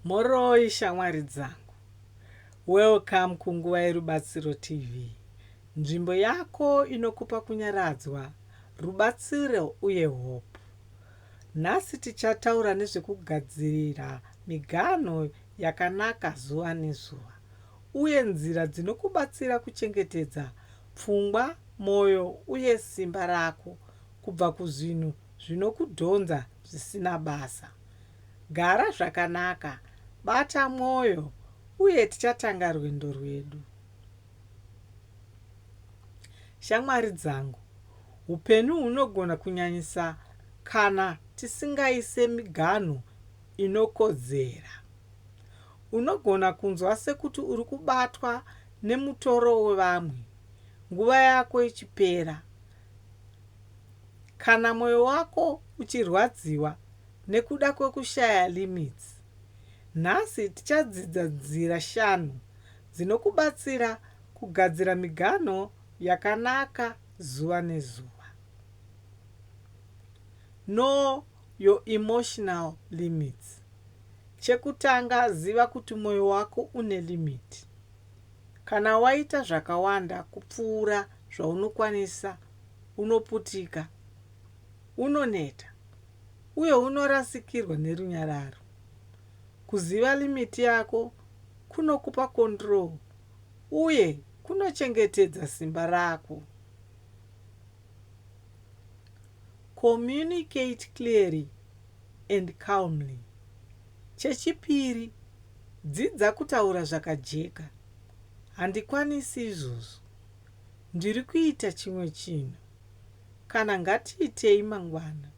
Mhoroi shamwari dzangu. Welcome ku Nguva yeRubatsiro TV, nzvimbo yako inokupa kunyaradzwa, rubatsiro uye hope. Nhasi tichataura nezvekugadzirira miganho yakanaka zuva nezuva uye nzira dzinokubatsira kuchengetedza pfungwa, moyo uye simba rako kubva kuzvinhu zvinokudhonza zvisina basa. Gara zvakanaka, bata mwoyo, uye tichatanga rwendo rwedu. Shamwari dzangu, upenyu hunogona kunyanyisa kana tisingaise miganhu inokodzera. Unogona kunzwa sekuti uri kubatwa nemutoro wevamwe, nguva yako ichipera, Kana moyo wako uchirwadziwa nekuda kwekushaya limits, nhasi tichadzidza nzira shanu dzinokubatsira kugadzira miganho yakanaka zuva nezuva. Know your emotional limits. Chekutanga ziva kuti moyo wako une limit. Kana waita zvakawanda kupfuura zvaunokwanisa, unoputika, unoneta, uye unorasikirwa nerunyararo. Kuziva limiti yako kunokupa control uye kunochengetedza simba rako. Communicate clearly. and calmly. Chechipiri, dzidza kutaura zvakajeka. Handikwanisi izvozvo. Ndiri kuita chimwe chinhu. Kana ngatiitei mangwana.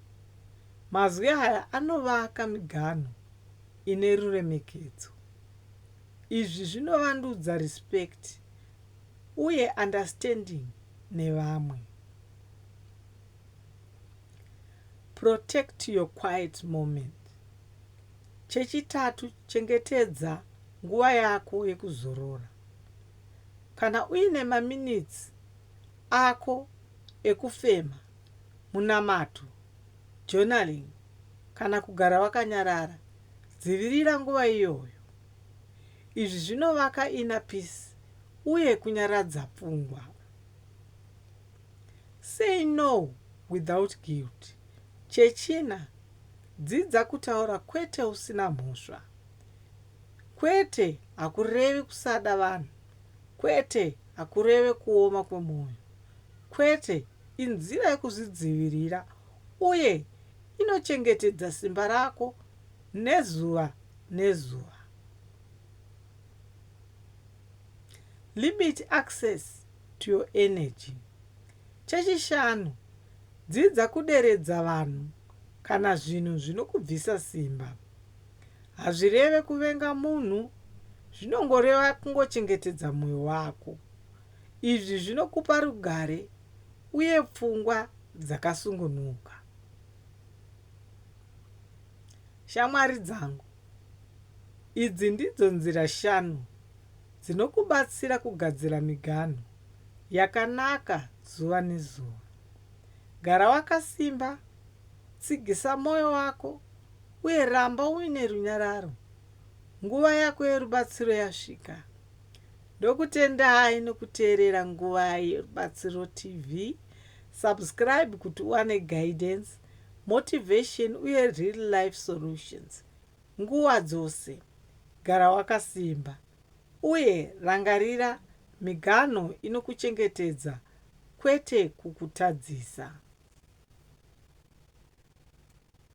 Mazwi aya anovaka miganhu ine ruremekedzo. Izvi zvinovandudza respect uye understanding nevamwe. Protect your quiet moment. Chechitatu, chengetedza nguva yako yekuzorora. Kana uine maminitsi ako ekufema, munamato, journaling, kana kugara wakanyarara, dzivirira nguva iyoyo. Izvi zvinovaka inner peace uye kunyaradza pfungwa. Say no without guilt. Chechina, dzidza kutaura kwete usina mhosva. Kwete hakurevi kusada vanhu. Kwete hakureve kuoma kwemwoyo. Kwete inzira yekuzvidzivirira uye inochengetedza simba rako nezuva nezuva. Limit access to your energy. Chechishanu, dzidza kuderedza vanhu kana zvinhu zvinokubvisa simba. Hazvireve kuvenga munhu, zvinongoreva kungochengetedza mwoyo wako. Izvi zvinokupa rugare uye pfungwa dzakasungunuka. Shamwari dzangu. Idzi ndidzo nzira shanu dzinokubatsira kugadzira miganhu yakanaka zuva nezuva. Gara wakasimba, tsigisa mwoyo wako, uye ramba uine runyararo. Nguva yako yerubatsiro yasvika. Ndokutendai nokuteerera Nguva Yerubatsiro TV. Subscribe kuti uwane guidance motivation uye real life solutions. Nguva dzose gara wakasimba uye rangarira miganho inokuchengetedza kwete kukutadzisa.